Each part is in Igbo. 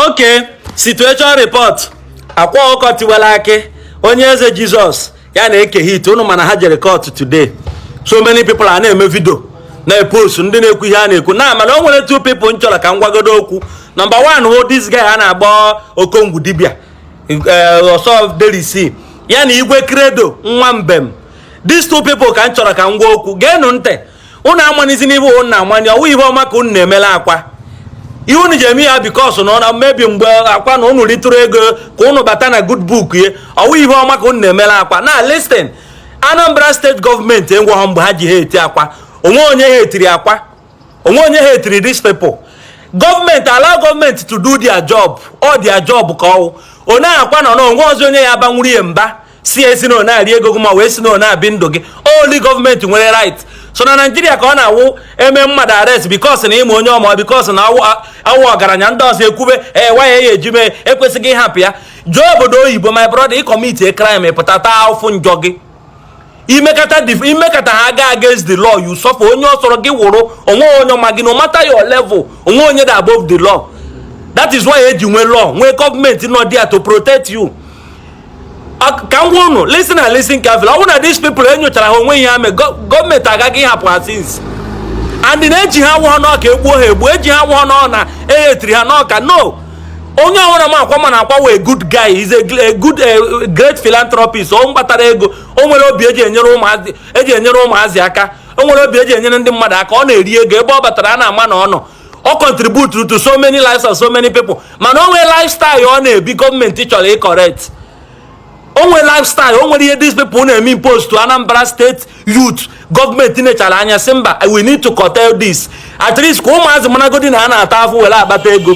okay situation report akwa ọkụkọ tiwara akị onye eze jizọs ya na eke hit unu mana ha jere court today so many people a na-eme video na-epost ndị na-ekwu ihe ha na-ekwu na mana o nwere two people m chọrọ ka m gwagodo okwu number one wụ this guy a na-agba okongwu dibia eh, ọsọ delisi ya na igwe credo nwa mbem these two people ka m chọrọ ka m gwa okwu geenụ ntị unu amanizi na ihe unu na-amanye ọwụ ihe ọma ka unu na-emela akwa ihe unu ji eme ya because na ọ maybe mgbe akwa na unu ritụrụ ego ka unu bata na good book ya ọwụ ihe ọma ka unu na-emela akwa now listen anambra state gọọmenti enweghọ mgbe ha ji hate akwa onwe onye hate-iri akwa onwe onye hate-iri these people gọọmenti allow gọọmenti to do their job ọ their job ka ọwụ onye akwa nọ na onwe ọzọ onye ya-abanwuru ya mba si esi na na-eri ego gị ma wee si na na-ebi ndụ gị only gọọmenti nwere right sọ na naijiria ka ọ na-awụ eme mmadụ arrest because na ịma onye ọma because na ọ wụ ọgaranya ndị ọzọ ekwube why eji mee ekwesịghị ịhapụ ya jee obodo oyibo my brother ị commit crime pụta taa afụfụ njọ gị imekata imekata ha aga against the law you suffer onye ọ sọrọ gị wụrụ onwe onye ma gị no matter your level onwe onye dị above the law that is why eji nwee law nwee gọọmenti nọ there to protect you ka m gwa unu listen and listen carefully ọ bụrụ na these people enyochara ha onwe ihe ha mee gọọmenti agaghị ịhapụ ha since and na eji ha awụhọ na ọ ka egbuo ha egbuo eji ha awụhọ na ọ na e hate-iri ha na ọ ka no onye ọwụna ma akwa ma na akwa wụ a good guy he's a good eh, great philanthropist ọ kpatara ego o nwere obi eji enyere ụmụazị aka o nwere obi eji enyere ndị mmadụ aka ọ na-eri ego ebe ọ batara a na-ama na ọ nọ ọ contribute to so many lives of so many people mana o nwere lifestyle ọ na-ebi gọọmenti chọrọ ị-correct o nwere lifestyle o nwere ihe these people na-eme impose to Anambra state youth gọọmenti nechara anya sị mba we need to curtail this at least ka ụmụazị maragodi na a na-ata afụfụ were akpata ego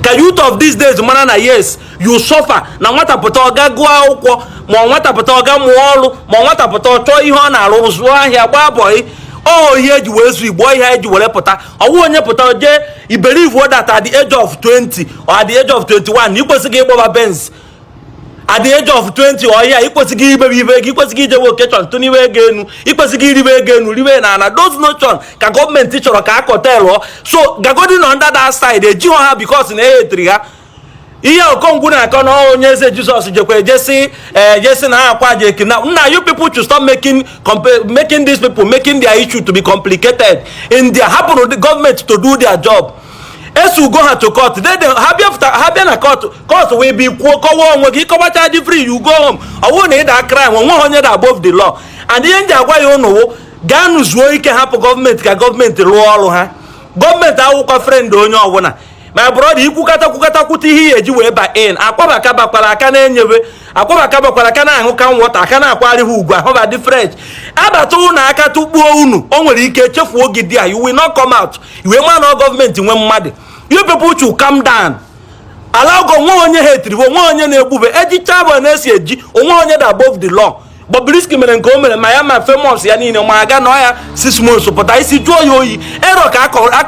ka youth of these days mara na yes you suffer na nwata pụta ọ gaa gụọ akwụkwọ ma ọ nwata pụta ọ gaa mụọ ọrụ ma ọ nwata pụta ọ chọọ ihe ọ na-arụ zụọ ahịa gbaa boy ọ ihe eji wee zụọ igbo ihe eji were pụta ọwụ onye pụta jee believe that at the age of 20 or at the age of 21 na ikwesịghị ịgbaba benz at the age of 20 or ya ikwesịghị ibebe ibe ego ikwesịghị ijewe occasion tụniwe ego enu ikwesịghị iribe ego enu ribe n'ana those notion ka gọọmenti chọrọ ka a curtail-ụọ so gagodi na under that side ejighọ ha because na e hate-iri ha ihe okongwu na-akọ na onye eze jizọs jekwa ejesi ejesi eh, na akwa jeki na now you people should stop making making these people making their issue to be complicated in their hapụnụ the government to do their job e sue-go ha to court then ha bịa ha bịa na court court wee bi kwuo kọwa onwe gị ịkọwacha dị free you go home ọ bụrụ na ị da crime onweghị onye da above the law and ihe ndị agwa ya unu wụ gaanụ zuo ike hapụ gọọmenti ka gọọmenti rụọ ọrụ ha gọọmenti awụkwa friend onye ọbụla my brother ikwukata kwukata kwuta ihe eji wee ba in akwabaka bakwara aka na-enyewe akwabaka bakwara aka na-aṅụ ka nwọta aka na-akwari ha ugwu ahụ dị fresh abata ụnụ aka tụkpuo unu o nwere ike chefuo gị there you will not come out i wee ma na gọọmenti nwe mmadụ you people should calm down ala ọgọ onwe onye ha etiriwe onwe onye na-egbube ejicha bụ na-esi eji onwe onye dị above the law Bobrisky mere nke o mere ma ya ma famous ya niile ma aga nọ ya six months pụta isi jụọ ya oyi erọ ka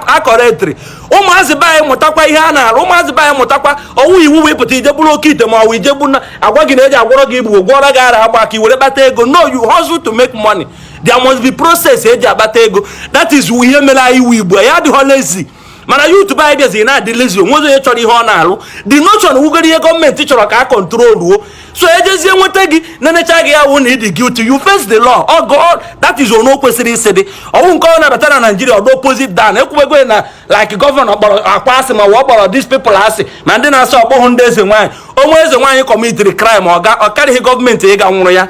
akọrọ etiri ụmụazị be anyị mụtakwa ihe a na-arụ ụmụazị be anyị mụtakwa ọwụ iwu wee pụta ije buru oke ite ma ọwụ ije bụ na agwa gị na eji agwọrọ gị igbo gwọrọ gị ara agba ka i were kpata ego no you hustle to make money there must be process eji akpata ego that is ihe mere anyị wụ igbo ya adịghọ lazy mana youth be anyị bịaziri na-adị lazy onwezi onye chọrọ ihe ọ na-alụ the notion wụgoro ihe gọọmenti chọrọ ka a control o so agency nweta gị na-enecha gị ya wụ na ịdị guilty you face the law ọ oh god that is ono kwesịrị isi dị ọnwụ nke ọ na-abata na naijiria ọ wụ opposite dan ekwubego na like gọvanọ kpọrọ akwa asị ma ọ kpọrọ these people asị ma ndị na-asị ọkpọhụ ndị eze nwaanyị onwe eze nwaanyị commitiri crime ọ karịghị gọọmenti ịga nwụrụ ya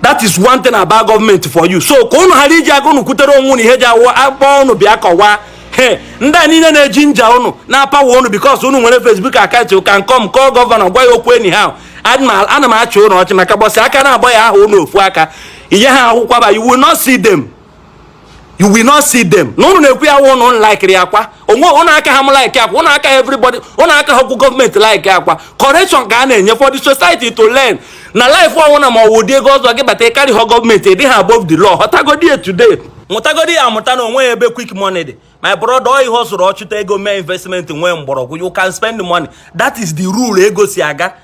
that is one thing about government for you so ka ụnụ ghara iji aka ụnụ kwutere onwe ụnụ ihe ji awụ akpọ ụnụ bịa kọwaa he ndị a niile na-eginger ụnụ na-apower ụnụ because ụnụ nwere Facebook account you can come call gọvanọ gwa ya okwu anyhow ana m achị ụnụ ọchị maka mbọsị aka na-agba ya aha ụnụ ofu aka inye ha akwụkwọ ba you will not see them you will not see them na ụnụ na-ekwu ya wụ ụnụ likiri akwa onwe ụnụ aka ha m like akwa ụnụ aka everybody ụnụ aka ha okwu gọọmenti like akwa correction ka a na-enye for the society to learn na life ọnwụ na ma ọwụ dị ego ọzọ gị bata ịkarị ha gọọmenti ịdị ha above the law họtagodi ya today mụtagodi ya amụta na onwe ebe quick money dị my brother ọ ị hustle chụta ego mee investment nwee mgbọrọgwụ you can spend money that is the rule ego si aga